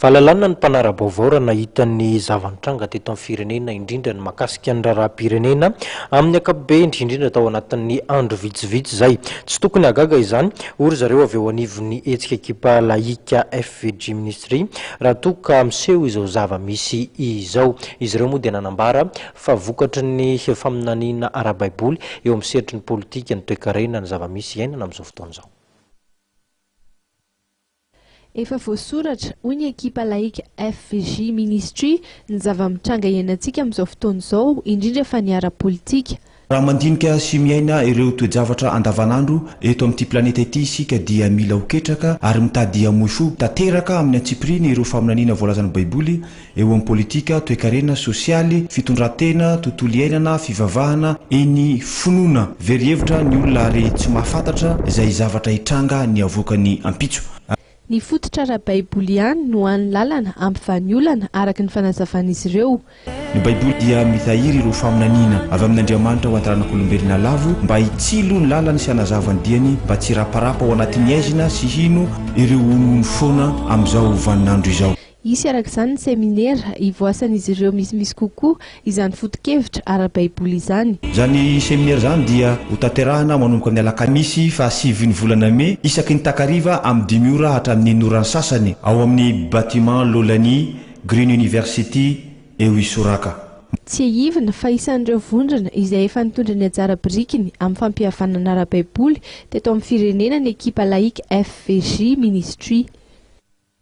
Valalanina ny mpanara-baovao raha nahita ny zava-nitranga teto amin'ny firenena, indrindra ny mahakasika ny raharaham-pirenena amin'ny ankapobeny, indrindra tao anatin'ny andro vitsivitsy izay. Tsy tokony hahagaga izany, hoy ry zareo avy eo anivon'ny hetsika ekipa lahika FVG Ministry, raha toa ka miseho izao zava-misy izao. Izy ireo moa dia nanambara fa vokatry ny faminaniana ara-baiboly eo amin'ny sehatry ny politika, ny toekarena, ny zava-misy iainana amin'izao fotoana izao. Efa voasoratra, hoy ny ekipa laika FVJ Ministry, ny zava-mitranga iainantsika amin'izao fotoana izao, indrindra fa ny ara-politika. Raha mandinika sy miaina ireo toe-javatra andavanandro eto amin'ity planeta ity isika dia mila ho ketraka ary mitady hamoy fo tanteraka amin'ny antsipiriany ireo faminaniana voalazan'ny Baiboly, eo amin'ny politika, toekarena, sosialy, fitondran-tena, tontolo iainana, fivavahana, eny finoana. Very hevitra ny olona ary tsy mahafantatra izay zavatra hitranga ny havoakany ampitso. Ny fototra ara-baiboly ihany no hany lalana hampivany olana, araka ny fanazavan'izy ireo. Ny Baiboly dia mitahiry ireo faminaniana avy amin'Andriamanitra ho an-taranak'olombelona lavo mba hitsilo ny lalany sy hanazava ny diany mba tsy hiraparapa ao anatin'ny haizina sy hino ireo honohono foana amin'izao vaninandro izao. Hisy araka izany ny seminera hivoasan'izy ireo misimisy kokoa izany foto-kevitra ara-baiboly izany. Izany seminera izany dia hotanterahina manomboka ny alakamisy faha sivin'ny volana mey isaky ny takariva amin'ny dimy ora hatramin'ny en'oran'ny sasany ao amin'ny Bâtiment Lolani, Green University, eo Isoraka. Tsiahivina fa isan'ireo vondrona izay efa nitondra ny anjara birikiny amin'ny fampihavanana ara-baiboly teto amin'ny firenena ny ekipa Laïque FVJ Ministry.